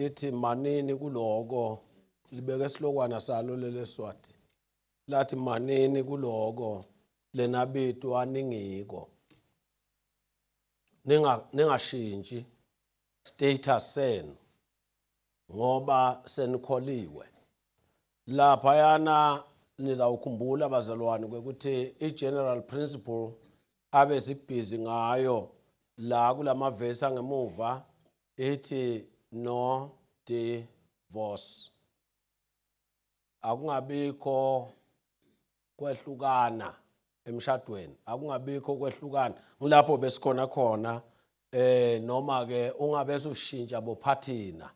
lithi manini kuloko libeke isilokwana salo leleswati lathi manini kuloko lena bitu aningiko ninga ningashintshi status senu ngoba senikholiwe lapha yana nizawukhumbula bazalwane ukuthi i-general principle abe sibhizi ngayo la kulamavesi angemuva ithi no divorce akungabikho kwehlukana emshadweni akungabikho kwehlukana ngilapho besikhona khona eh noma ke ungabese ushintsha bophathina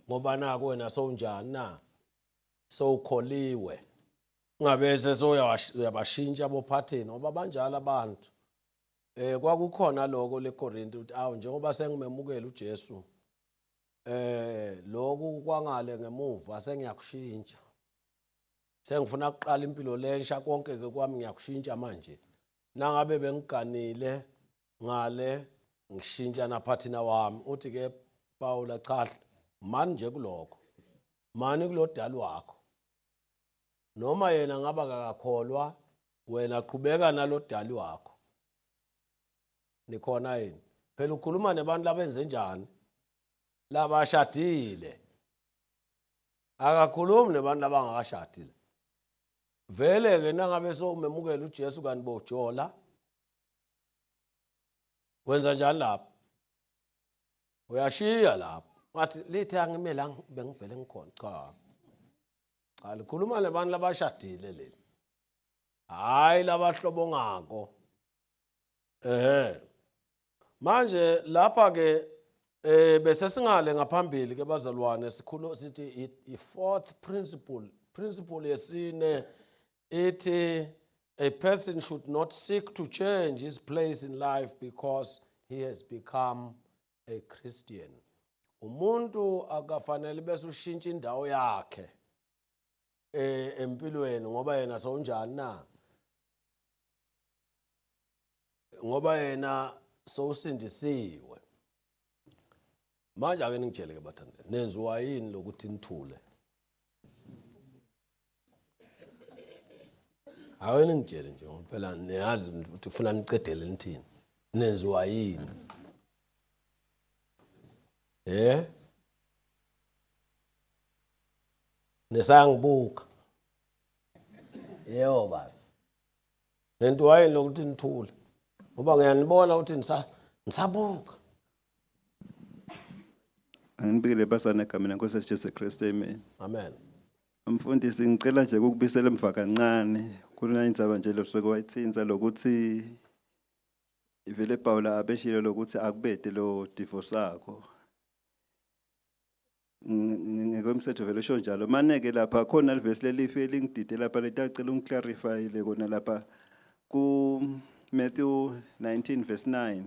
ngoba nako wena sowunjani na sowukholiwe ungabese soyabashintsha bophathina ngoba banjalo abantu Eh kwakukhona lokho leKorinte uthi awu njengoba sengimemukela uJesu eh lokhu kwangale ngemuva sengiyakushintsha. Sengifuna ukuqala impilo lensha konke ke kwami ngiyakushintsha manje. Nangabe bengiganile ngale ngishintsha naphathina wami uthi ke Paula cha mani nje kuloko. Mani kulodali wakho. noma yena ngaba kakakholwa wena qhubeka nalodali wakho nikhona yini phela ukhuluma nebantu labenze njani labashadile akakhulumi nebantu abangakashadile vele ke nangabe sowumemukela uJesu kanti bojola wenza njani lapho uyashiya lapho ngathi lithe angime la bengivele ngikhona cha cha likhuluma labantu labashadile leli hayi labahlobo ngako ehe manje lapha ke eh bese singale ngaphambili ke bazalwane sikhulu sithi i fourth principle principle yesine ithi a person should not seek to change his place in life because he has become a Christian umuntu akafanele bese ushintsha indawo yakhe eh empilweni ngoba yena sowunjani na ngoba yena sowusindisiwe manje ake ningitshele ke bathandeni nenziwa yini lokuthi nithule hawe ningitshele nje ngoba phela niyazi ukuthi ufuna niqedele nithini nenziwa yini eh nesangibuka yebo baba nento wayini lokuthi nithule ngoba ngiyanibona ukuthi ngisabuka Anginibikele basana egameni lenkosi yethu Jesu Kristu amen. Amen. Mfundisi ngicela nje ukubisela emva kancane kulona indzaba nje losuke wayithinta lokuthi ivele Pawula abeshilo lokuthi akubete lo divorce sakho. Ngekwemthetho vele usho njalo. Mane ke lapha khona livesi lelifi elingidide lapha letacela ungiclarify le kona lapha ku Matthew 19 verse 9.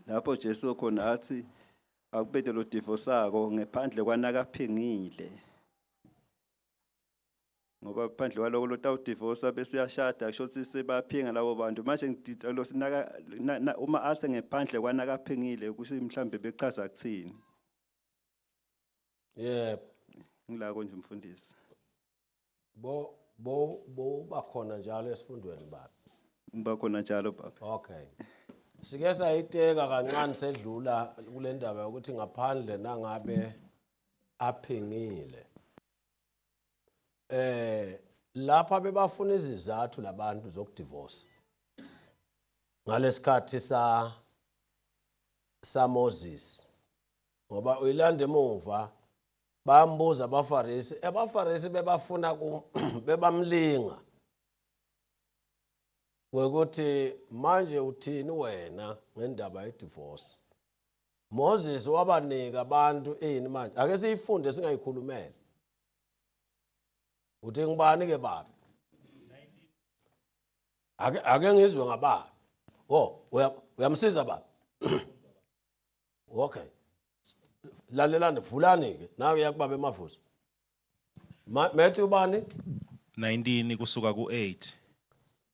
lapho Jesu khona athi akubede lo divo sako ngephandle kwanakaphingile ngoba phandle kwaloko lotawudivosa bese uyashada kusho ukuthi sebaphinga labo bantu manje losinaka uma athe ngephandle kwanakaphingile kusho mhlambe bechaza kuthini yebo ngilako nje mfundisi Bo bo bo bakhona njalo esifundweni baba. Ngibakhona njalo baba. Okay. Sike sayiteka kancane sedlula kule ndaba yokuthi ngaphandle nangabe aphingile. Eh lapha bebafuna izizathu labantu zokudivorce. Ngalesikhathi sa sa Moses. Ngoba uyilanda emuva Bambuza abaFarisi, abaFarisi bebafuna bebamlinga ngokuthi manje uthini wena ngendaba yedivorce. Moses wabanika abantu ini manje? Ake siyifunde singayikhulumele. Uthi ngibani ke baba? Ake ake ngizwe ngababa. Oh, uyamsiza baba. Okay. Lalelani vulani ke. Nawe yakubaba emavuso. Ma- Matthew bani? 19 kusuka ku-8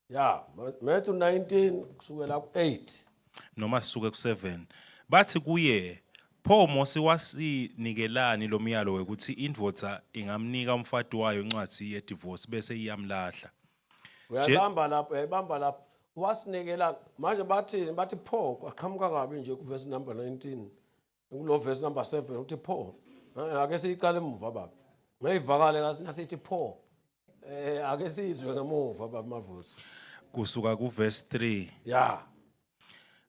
Ya, Ma- Matthew 19 kusukela ku8. noma sisuke ku-7 bathi kuye pho mose wasinikelani lo myalo wekuthi indvodza ingamnika umfati wayo incwadzi yedivosi bese iyamlahla uyayibamba lapho uyayibamba lapho wasinikela manje bathini bathi pho kwaqhamuka kabi nje kuvesi number 19 kulo vesi number 7 uthi pho ake siyiqale emuva baba ngayivakale nasithi pho eh ake sizwe ngemuva baba mavuso kusuka kuvesi 3 ya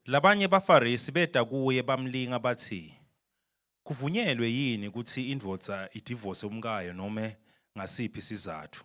labanye bafarisi beda kuye bamlinga bathi kuvunyelwe yini ukuthi indvodza idivose umkayo noma ngasiphi sizathu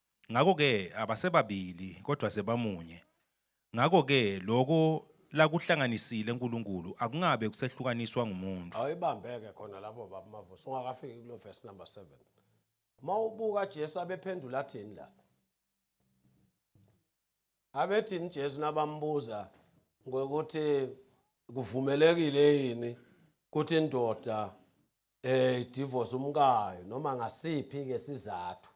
Ngakho-ke abasebabili, kodwa sebamunye. Ngakho-ke lokho lakuhlanganisile uNkulunkulu akungabe kusehlukaniswa ngumuntu. Awuyibambe-ke khona lapho, Baba Mavuso, ungakafiki kulo verse number 7. Uma ubuka Jesu abephendula athini la? Abethini Jesu nabambuza ngokuthi kuvumelekile yini ukuthi indoda eh divorce umkayo noma ngasiphi ke sizathu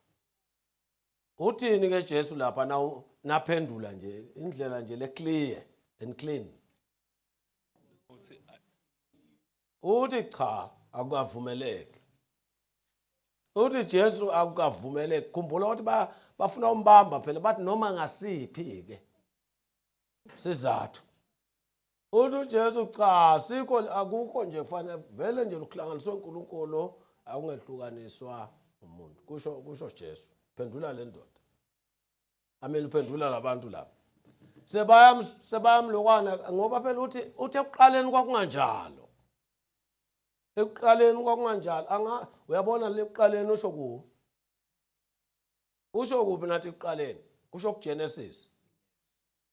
uthini ke Jesu lapha na naphendula nje indlela nje le clear and clean uthi cha akukavumeleki uthi Jesu akukavumeleki khumbula ukuthi ba bafuna umbamba phela bathi noma ngasiphi ke sizathu Uthi uJesu cha sikho akukho nje kufanele vele nje luhlanganiswe uNkulunkulu akungehlukaniswa umuntu kusho kusho Jesu phendula le ndoda ameni uphendula labantu laba sebayam sebayamlokwana ngoba phela uthi uthi ekuqaleni kwakunganjalo ekuqaleni kwakunganjalo anga uyabona le ekuqaleni usho ku usho kuphi nathi ekuqaleni usho kuGenesis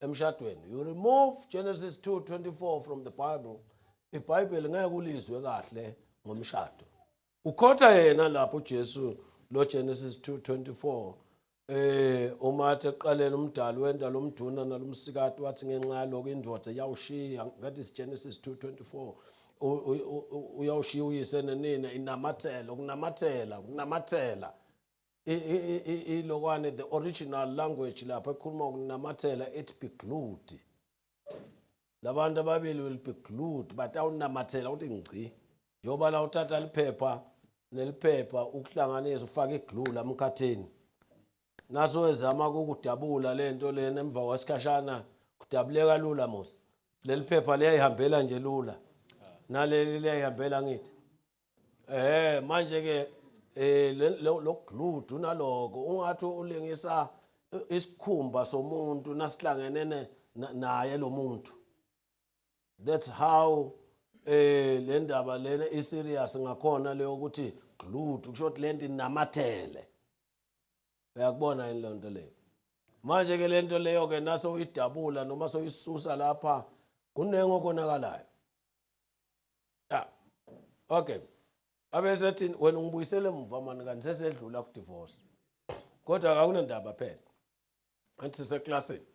emshadweni you remove Genesis 2:24 from the Bible iBhayibheli ngeke ulizwe kahle ngomshado ukhotha yena lapho uJesu lo Genesis 2:24 eh uma athi eqaleni umdali wenda lomduna nalomsikati wathi ngenxa yaloko indoda yawushiya that is Genesis 2:24 uyawushiya uyise nenina inamathela ukunamathela ukunamathela ilokwane the original language lapha ekhuluma ukunamathela ethi be glued labantu ababili will be glued but awunamathela uthi ngci njengoba la uthatha liphepha neliphepha ukuhlanganisa ufake iglue la mkhathini naso wezama ukukudabula le nto lena emva kwesikhashana kudabuleka lula mos leli phepha liyayihambela nje lula naleli liyayihambela ngithi Eh manje ke eh le- lo lo gludu naloko ungathi ulingisa i- isikhumba somuntu nasihlangene ne- na- naye lo muntu. That's how eh le ndaba lena i serious ngakhona leyo ukuthi gludu kusho ukuthi lento inamathele. Uyakubona yini lento leyo? Manje ke lento leyo ke nase uyidabula noma soyisusa lapha kuningi okonakalayo. ah okay abesethi wena ngibuyisele emuva mani kanti sesedlula ku divorce kodwa akunendaba phela athi siseklasini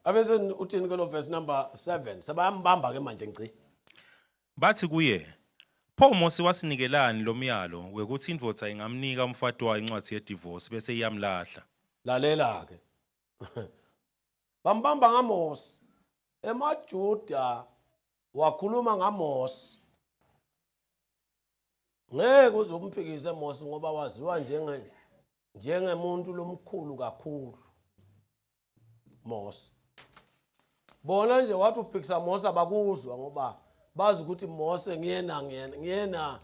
abese uthini ke lo verse number 7 sebayambamba ke manje ngci bathi kuye Pho Mose wasinikelani lo myalo wekuthi indvodza ingamnika umfati wayo incwadzi yedivorce bese iyamlahla. Lalela-ke. Bambamba ngaMose. EmaJuda wakhuluma ngaMose ngeke uze umphikise Mose ngoba waziwa njenge njengemuntu lomkhulu kakhulu Mose bona nje wathi uphikisa Mose abakuzwa ngoba bazi ukuthi Mose ngiyena ngiyena ngiyena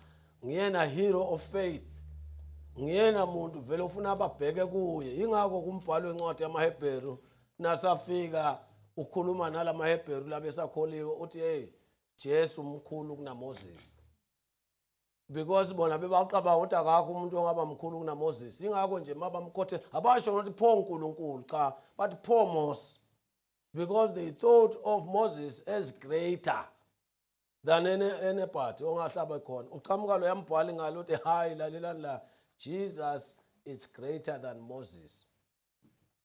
ngiyena hero of faith ngiyena muntu vele ufuna ababheke kuye ingakho kumbhalo wencwadi yamaHebheru nasafika ukhuluma nalamaHebheru labesakholiwe uthi hey Jesu mkhulu kunaMoses because bona bebaqaba ukuthi akakho umuntu ongaba mkhulu kunaMoses ingakho nje mabamkhothe abasho ukuthi pho uNkulunkulu cha bathi pho Moses because they thought of Moses as greater than any anybody ongahlaba khona uqhamuka lo yambhwali ngalo uthi hayi lalelani la Jesus is greater than Moses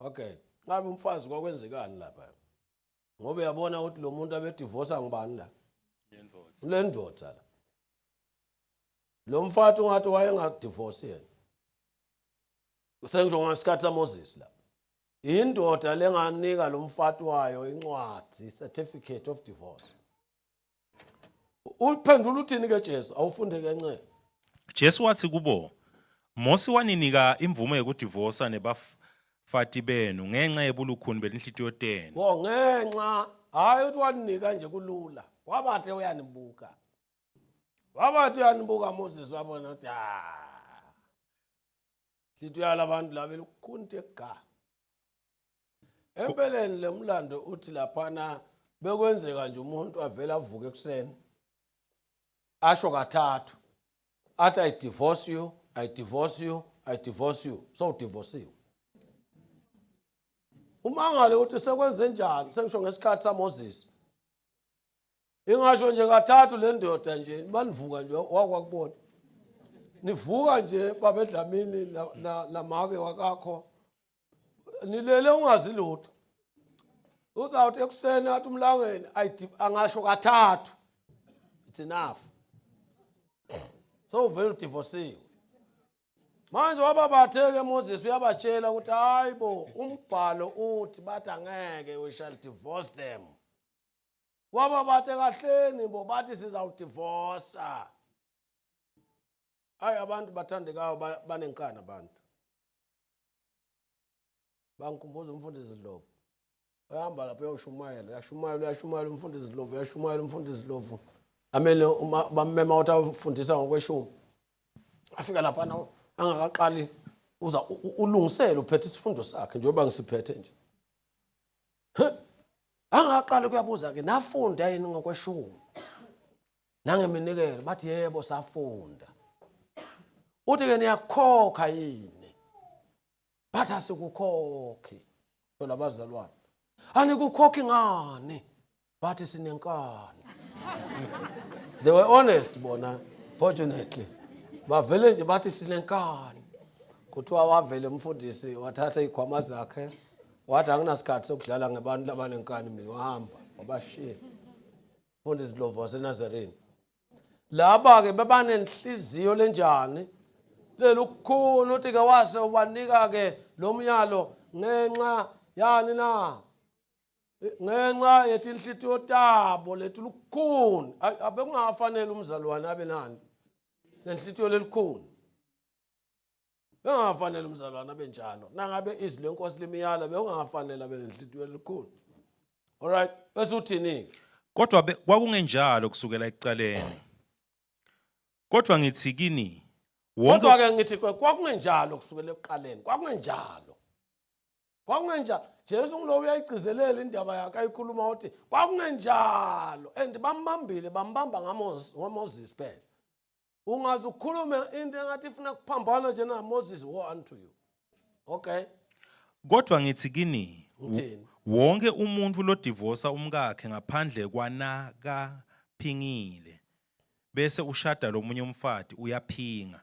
Okay. Ngabe umfazi kwakwenzekani lapha? Ngoba uyabona ukuthi lo muntu abedivorsa ngubani la? Lendoda. Lendoda la. Lo mfathi ungathi wayengadivorce yena. Usengisho ngesikhathi saMoses la. Indoda lenganika lo mfathi wayo incwadi, certificate of divorce. uphendula uthini ke Jesu awufunde kancane Jesu wathi kubo Mose waninika imvume yokudivosa nebafati benu ngenxa yebulukhuni belinhlitiyo tenu wo ngenxa hayi uthi waninika nje kulula wabathe uyanibuka wabathi uyanibuka Moses wabona ukuthi ah Lithi uyala abantu la belukhunte ga. Empeleni lemlando uthi laphana bekwenzeka nje umuntu avela avuke ekuseni. Asho kathathu. Athi I divorce you, I divorce you, I divorce you. So divorceiwe. Umangale uthi sekwenze njani? Sengisho ngesikhathi saMoses. ingasho nje kathathu le ndoda nje manivuka nje wakwakubona nivuka nje babedlamini namake wakakho nilele ungazi lutho uzawuthi ekuseni athi umlangeni angasho kathathu it's enough so uvele udivosiwe manje wababatheke moses uyabatshela ukuthi hayi bo umbhalo uthi bathi angeke we shall divorce them waba bathe kahleni bo bathi sizawudivosa hayi abantu bathandekayo ba- banenkani abantu bangikhumbuza umfundisi ndlovu uyahamba lapho uyawushumayela uyashumayela uyashumayela umfundisi ndlovu uyashumayela umfundisi ndlovu amele uma- bammema ukuthi awufundisa ngokweshumi afika laphana angakaqali uza u- u- ulungisele uphethe isifundo sakhe njengoba ngisiphethe nje Angaqala ukuyabuza-ke nafunda yini ngokweshumi nangeminikelo bathi yebo safunda uthi-ke niyakukhokha yini bathi asikukhokhi phela bazalwane anikukhokhi ngani but sinenkani they were honest bona fortunately bavele nje bathi sinenkani kuthiwa wavele umfundisi wathatha iy'khwama zakhe wathi anginasikhathi sokudlala ngebantu labanenkani mina wahamba wabashiya mfundisi lovo wasenazareni laba-ke bebanenhliziyo lenjani lelukhulu uthi-ke wase ubanika-ke lo myalo ngenxa yani na ngenxa yetinhlitiyo tabo letilukhuni abekungafanele umzalwane abe nani nenhlitiyo lelikhuni bengafanele umzalwane abe njalo nangabe izwi lenkosi limiyala bekungafanele abe nenhlitiyo lelikhuni alright bese uthini-ke kodwa kwakungenjalo kusukela ekuqaleni kodwa ngithi kini kodwa-ke ngithi kwakungenjalo kusukela ekuqaleni kwakungenjalo kwakungenjalo jesu ngulowo uyayigcizelela indaba yakhe ayikhuluma uthi kwakungenjalo and bambambile bambamba ngamoses phela ungaze ukhulume into engathi ifuna kuphambana nje namoses wo unto you okay kodwa ngithi kini uthini wonke umuntu lodivosa umkakhe ngaphandle kwanakaphingile bese ushada lomunye umfati uyaphinga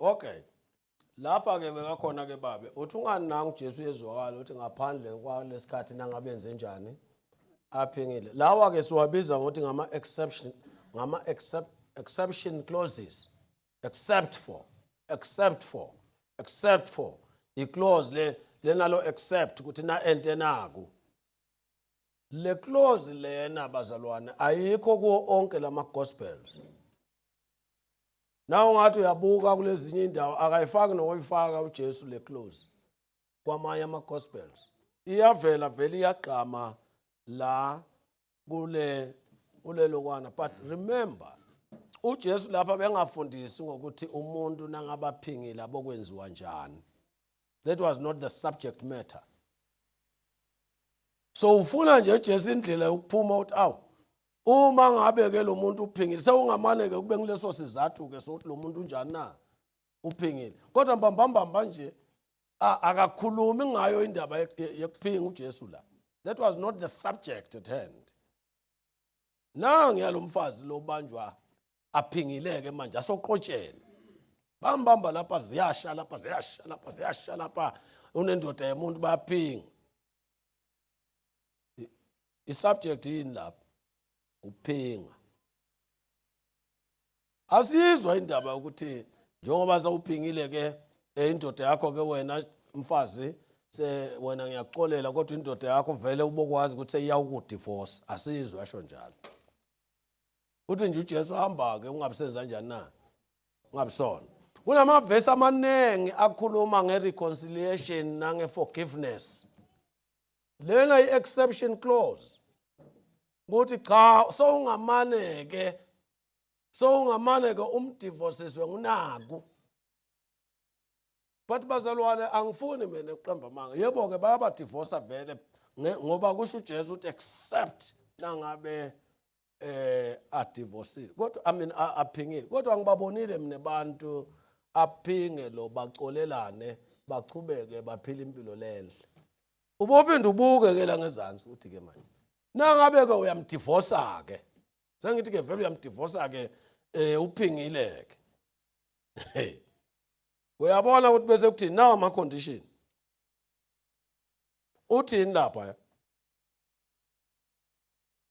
Okay. Lapha ke bekakhona ke babe. Uthi ungani nangu Jesu ezwakala uthi ngaphandle kwalesikhathi nangabenze njani aphingile. Lawa ke siwabiza ngokuthi ngama exception ngama except, exception clauses. Except for except for except for i clause le lenalo except ukuthi na ente naku. Le clause lena bazalwane ayikho kuwo onke lama gospels. Nawe ngathi uyabuka kulezinye indawo akayifaki nokoyifaka uJesu le close kwamanye ama gospels. Iyavela vele iyagqama la kule kulelokwana but remember uJesu lapha bengafundisi ngokuthi umuntu nangabaphingile abokwenziwa njani. That was not the subject matter. So ufuna nje Jesu indlela yokuphuma uthi awu Uma ngabe ke lo muntu uphingile sewungamane ke kube ngileso sizathu ke sokuthi lo muntu unjani na uphingile kodwa mbambambamba nje akakhulumi ngayo indaba yekuphinga uJesu la that was not the subject at hand na ngiyalomfazi lobanjwa aphingileke manje asoqotsheni bambamba lapha ziyasha lapha ziyasha lapha ziyasha lapha unendoda yemuntu bayaphinga isubject yini lapho ukuphinga asizwa indaba ukuthi njengoba sawuphingile ke eh, indoda yakho ke wena mfazi se wena ngiyakuxolela kodwa indoda yakho vele ubokwazi ukuthi seyiyawukudivorce asizwe asho njalo uthi nje uJesu hamba ke ungabisenza kanjani na ungabisona kunamavesi amaningi akhuluma ngereconciliation nangeforgiveness lena i-exception clause ukuthi cha sowungamane-ke sowungamane-ke umdivosiswe ngunaku but bazalwane angifuni mina ukuqamba amanga yebo-ke bayabadivosa vele ngoba kusho ujesu ukuthi except nangabe eh adivosile kodwa i mean aphingile kodwa ngibabonile mina abantu aphinge lo bacolelane baqhubeke baphila impilo lenhle ubophinde ubuke ke la ngezansi uthi ke manje nangabe ke uyamdivosa ke sengithi ke vele uyamdivosa ke eh uphingile ke uyabona ukuthi bese kuthi nawo ama condition uthini lapha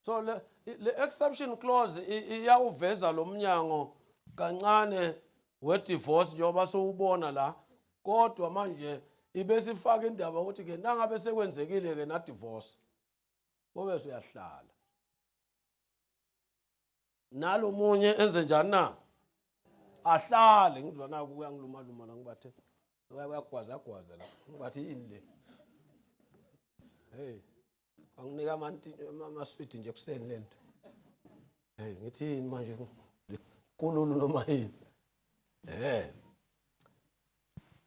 so le, le exception clause iyawuveza lo mnyango kancane we-divorce njengoba sowubona la kodwa manje ibesifaka indaba ukuthi ke nangabe sekwenzekile ke nadivorce bobe siyahlala nalomunye enze njani na ahlale ngizwa naku uyangiluma luma la ngibathe uyagwaza gwaza la ngibathi yini le hey Anginika amanti amaswidi nje kuseni lento. Hey ngithini manje kululu noma yini? Eh.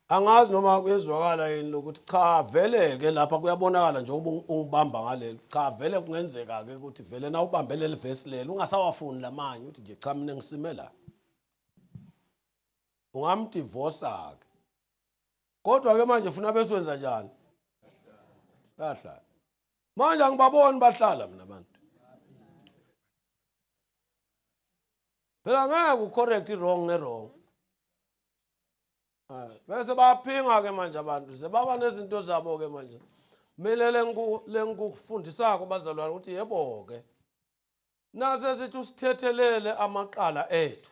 Angazi noma kuyezwakala yini lokuthi cha vele ke lapha kuyabonakala njengoba ungibamba ngaleli. Cha vele kungenzeka ke ukuthi vele na ubambe leli verse leli ungasawafuni lamanye uthi nje cha mina ngisime la. Ungamdivorce ke. kodwa ke manje funa beswenza njani bahlala manje angibaboni bahlala mina abantu phela ngeke ucorrect i-wrong nge-wrong ah, bese baphinga ke manje abantu sebaba nezinto zabo ke manje mina lengikufundisako bazalwane ukuthi yebo-ke nase sithi usithethelele amaqala ethu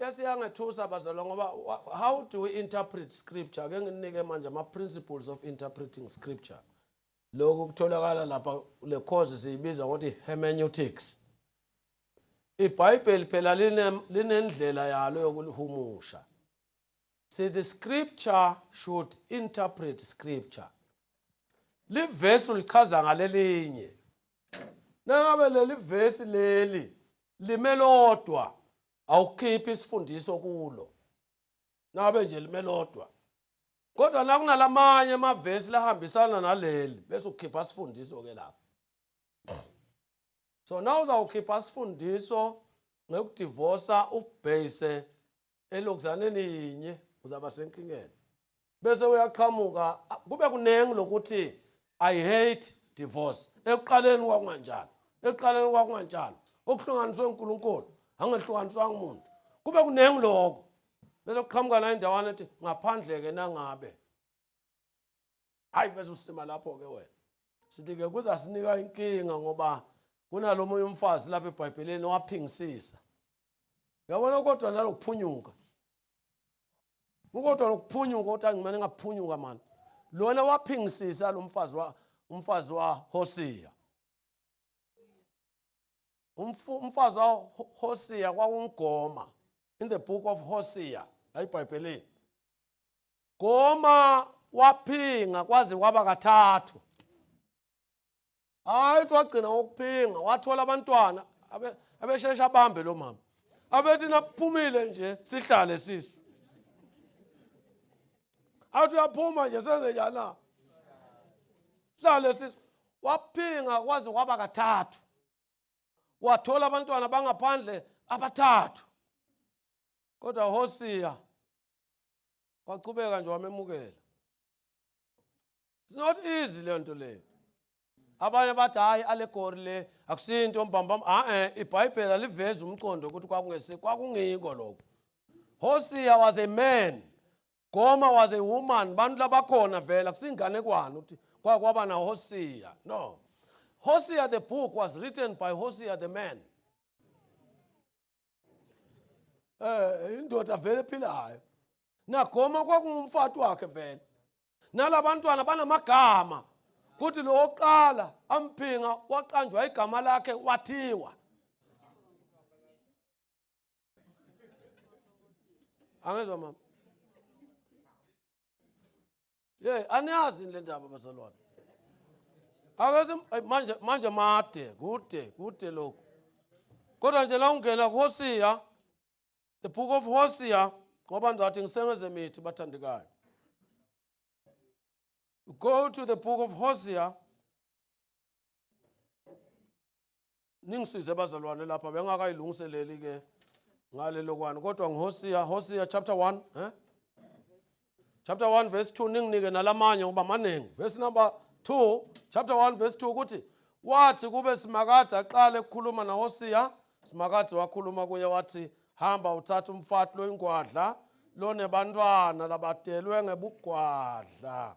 bese yangethusa bazalwa ngoba how do we interpret scripture ke nginike manje ama principles of interpreting scripture lokhu kutholakala lapha le course siyibiza ngokuthi hermeneutics ibhayibheli phela linendlela yalo yokulihumusha see the scripture should interpret scripture livesi ulichaza ngalelinye Nangabe leli vesi leli lime lodwa awukhiphi isifundiso kulo. Nangabe nje lime lodwa. Kodwa nakunalamanye amavesi lahambisana naleli bese ukhipha isifundiso ke lapha. So na uzawukhipha isifundiso ngekudivosa ubase elokuzaneni yinye uzaba senkingeni bese uyaqhamuka kube kuningi lokuthi i hate divorce ekuqaleni kwakunganjalo ekuqaleni kwakunganjalo okuhlanganiswe uNkulunkulu angehlukaniswanga umuntu kube kuningi lokho bese kuqhamuka la indawana ethi ngaphandle ke nangabe hayi bese usima lapho-ke wena sithi-ke kuzasinika inkinga ngoba kunalo munye umfazi lapha ebhayibheleni owaphingisisa yabona kodwa nalokuphunyuka ukodwa lokuphunyuka ukuthi angimane ngaphunyuka mani lona waphingisisa lo mfazi wa umfazi wa hosiya umfazi wa hosiya kwawumgoma in the book of hosiya la ibhayibhelini Goma waphinga kwaze kwaba kathathu. Hayi uthi wagcina ngokuphinga wathola abantwana abesheshe abambe lo mama. Abethi naphumile nje sihlale sisu. Athi uyaphuma nje senze njani na? Sihlale sisu. Waphinga kwaze kwaba kathathu. Wathola abantwana bangaphandle abathathu. Kodwa Hosiya waqhubeka nje wamemukela it's not easy le nto leyo abanye bathi hayi allegory le akusinto mbambam a-e ibhayibheli alivezi umqondo ukuthi kwakungesi kwakungiko lokho hosiya was a man goma was a woman bantu labakhona vele akusinganekwane ukuthi kwake kwaba nahosiya no hosiya the book was written by hosiya the man eh indoda vele ephilayo nagoma kwakungumfati wakhe vele nalabantwana banamagama kuthi lo oqala amphinga waqanjwa igama lakhe wathiwa angezwa mama Hey, aniyazi yini le ndaba bazalwane? Akaze ay, manje manje made kude kude lokhu. Kodwa nje la ungena kuHosiya the book of Hosiya ngoba ngizathi ngisengeze mithi bathandekayo. Go to the book of Hosiya ningisize bazalwane lapha bengakayilungiseleli ke ngale lokwani kodwa ngihosiya hosiya chapter 1 eh chapter 1 verse 2 ninginike nalamanye ngoba maningi verse number 2 chapter 1 verse 2 ukuthi wathi kube simakade aqale ukukhuluma nahosiya simakade wakhuluma kuye wathi hamba uthatha umfati loyingwadla lonebantwana labadelwe ngebugwadla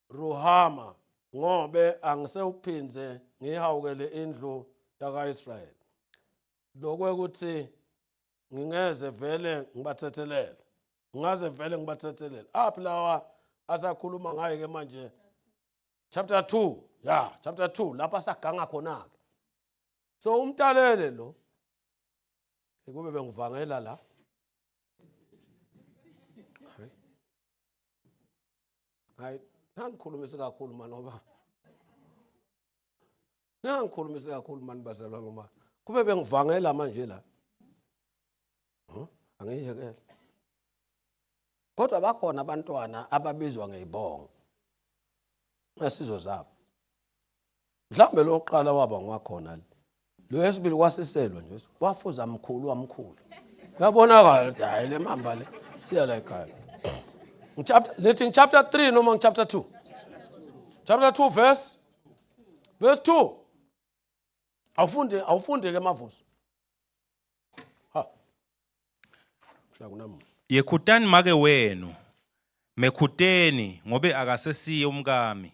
Ruhama, ngobe angisewuphindze ngiyihawukele indlu yaka-Israyeli, lokwekuthi ngingeze vele ngibathethelele ngaze vele ngibathethelele aphi lawa asakhuluma ngaye ke manje chapter 2 ya chapter 2 lapha saganga khona ke so umtalele lo ekube bengivangela la hayi nangikhulumisi kakhulu mani ngoba nangikhulumisi kakhulu mani bazalwa ngoba kube bengivangela manje la huh? angiyekele kodwa bakhona abantwana ababizwa ngeyibongo ngesizwe zabo Mhlawumbe lo wokuqala waba ngwakhona le. Lo wesibili wasiselwa nje. Wafuza mkhulu wamkhulu. Kuyabonakala ukuthi hayi le mamba le siya la ekhaya. Chapter lethi chapter 3 noma chapter 2. Chapter 2 verse verse 2. Awufunde awufunde ke mavuso. Ha. Mhla kunamuntu. Yekhutani make wenu. Mekhuteni ngobe akasesiye umkami.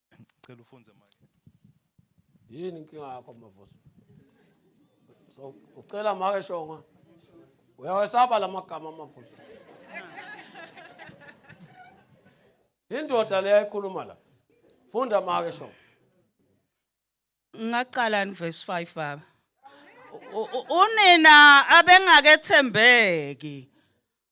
Ngicela ufunze manje. Yini inkinga yakho mavuso? So ucela make shonga. Uyawesaba lamagama amavuso. Indoda leya ikhuluma la. Funda make shonga. Ngaqala in verse 5 baba. U- u- Unina abengakethembeki.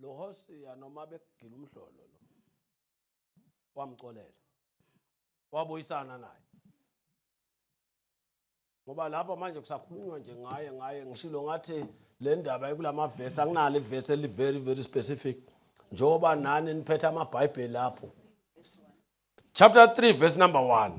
lo Hosiya noma bekugila umhlolo lo wamxolela wabuyisana naye ngoba lapha manje kusakhulunywa nje ngaye ngaye ngishilo ngathi le ndaba ekulama verse akunalo iverse eli very very specific njengoba nani niphethe amabhayibheli lapho chapter 3 verse number 1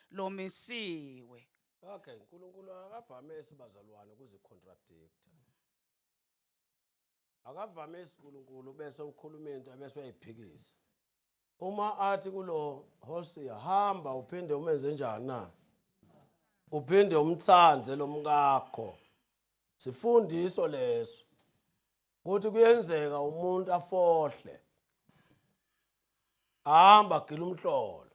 lomisiwe. Okay, uNkulunkulu akavamisi bazalwane ukuzicontradictor. Akavamisi uNkulunkulu bese ukhuluma into bese uyayiphikisa. Uma athi kulo Hosiya hamba uphinde umenze njani na? Uphinde umthande lo mkakho. Sifundiso leso. Kuthi kuyenzeka umuntu afohle. Hamba gila umhlolo.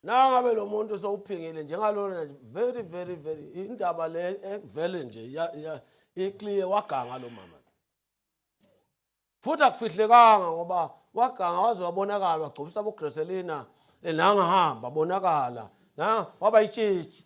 nangabe lo muntu sowuphingile njengalona very very very indaba le evele nje iclear waganga lo mama futhi akufihlekanga ngoba waganga waze wabonakala wagcobisa bogreselina enangahamba bonakala na waba yitshitshi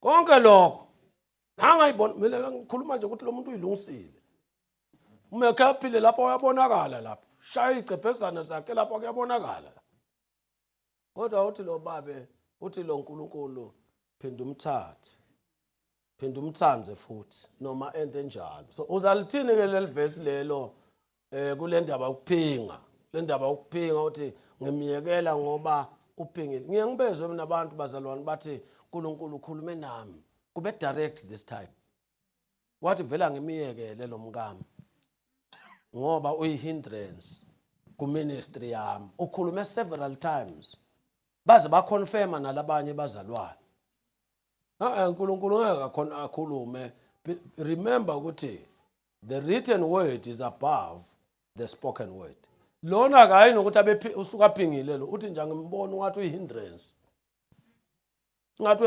konke lokho ngangayibona mina ngikhuluma nje ukuthi lo muntu uyilungisile uma ekhe aphile lapho uyabonakala lapho shaya iy'cephezana zakhe lapho kuyabonakala kodwa uthi lo babe uthi lo nkulunkulu phinda umthathe phinda umthande futhi noma ento enjalo so uzalithini-ke leli vesi lelo eh kule ndaba ukuphinga le ndaba ukuphinga uthi ngimyekela ngoba uphingile ngiye ngibezwe mina abantu bazalwane bathi uNkulunkulu ukhulume nami kube direct this time wathi vela ngimiyekele lo mkami ngoba uyihindrance kuministry yami ukhulume several times baze baconfirma nalabanye bazalwane uNkulunkulu ngeke akhona akhulume remember ukuthi the written word is above the spoken word lona kayi nokuthi abe usuka phingile lo uthi nje ngimbona ungathi uyihindrance ngathi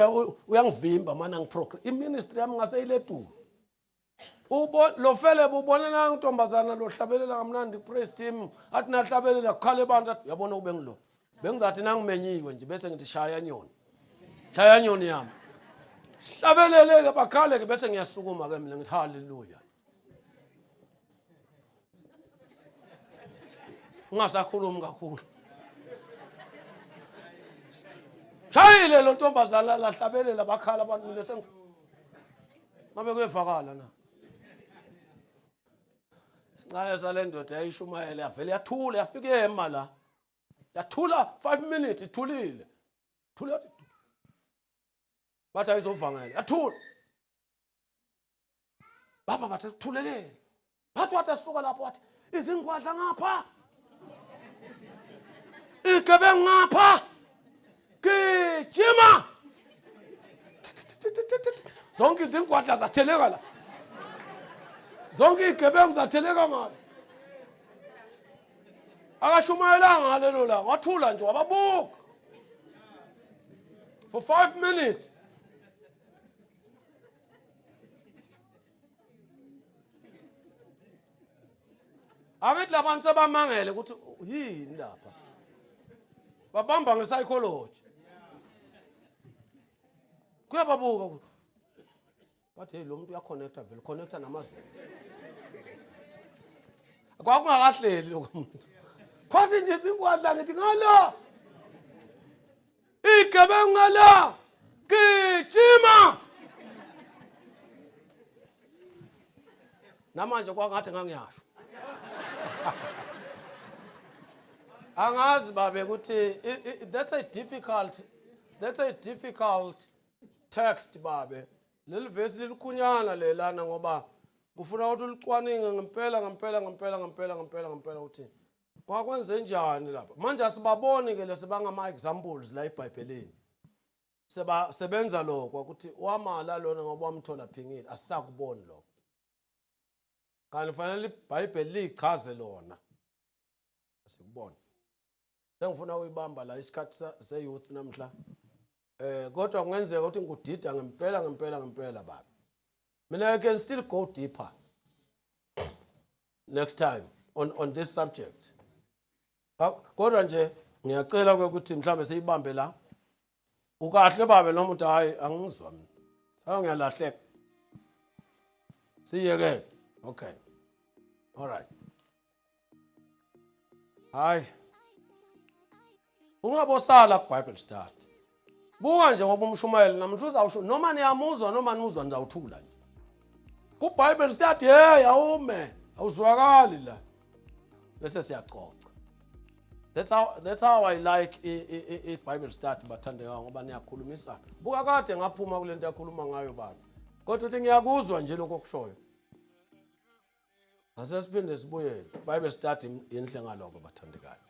uyangivimba mana ngiprogram iministry yami ngase iledulo ubo lofele bubona na ntombazana lohlabelela kamnandi praise team athi nahlabelela kukhale abantu yabona kube ngilo bengizathi nangimenyiwe nje bese ngithi shaya nyoni shaya nyoni yami sihlabelele-ke bakhale-ke bese ngiyasukuma-ke mina ngithi haleluya ungasakhulumi kakhulu shayile lo ntombazana lahlabelela bakhala abantu mina sengi ngabe kuyevakala na sincane sale ndoda yayishumayele yavele yathula yafika ema la yathula 5 minutes ithulile thula bathi ayizovangela yathula baba bathi thuleleni bathi wathi asuka lapho wathi izingwadla ngapha igebe ngapha gijima zonke izingwadla zatheleka la zonke igebengu zatheleka ngalo akashumayelanga ngalelo langa wathula nje wababuka for five minutes abethi labantu sebamangele ukuthi yini lapha babamba nge-psychology kuyababuka ukuthi But hey lo muntu uyaconnecta vele connecta namazulu. Kwakungakahleli lokho muntu. Phansi nje sinkwadla ngithi ngala. Igebengu ngala. Gijima. Namanje kwangathi ngangiyasho. Angazi babe ukuthi that's a difficult that's a difficult text babe leli vesi lilikhunyana le lana ngoba kufuna ukuthi ulicwaninge ngempela ngempela ngempela ngempela ngempela ngempela ukuthi kwakwenze njani lapha manje asibaboni ke lesi bangama examples la eBhayibhelini seba sebenza lokho ukuthi wamala lona ngoba wamthola phingile asisakuboni lokho kanti fanele iBhayibheli lichaze lona sikubona engifuna uyibamba la isikhathi se-youth namhla eh kodwa kungenzeka ukuthi ngikudida ngempela ngempela ngempela baba mina i can still go deeper next time on, on this subject kodwa nje ngiyacela ukuthi mhlawumbe siyibambe la ukahle babe noma uthi hayi angizwa mina hayi ngiyalahleka siyeke okay all right hayi ungabosala kubible study buka nje ngoba umshumayeli namhla uzawusho noma niyamuzwa noma nimuzwa nizawuthula nje kubible study hey awume awuzwakali la bese siyacoca that's how that's how i like i bible study bathandeka ngoba niyakhulumisana buka kade ngaphuma kulento yakhuluma ngayo baba kodwa uthi ngiyakuzwa nje lokho kushoyo asesiphinde sibuyele bible study inhle ngaloko bathandekayo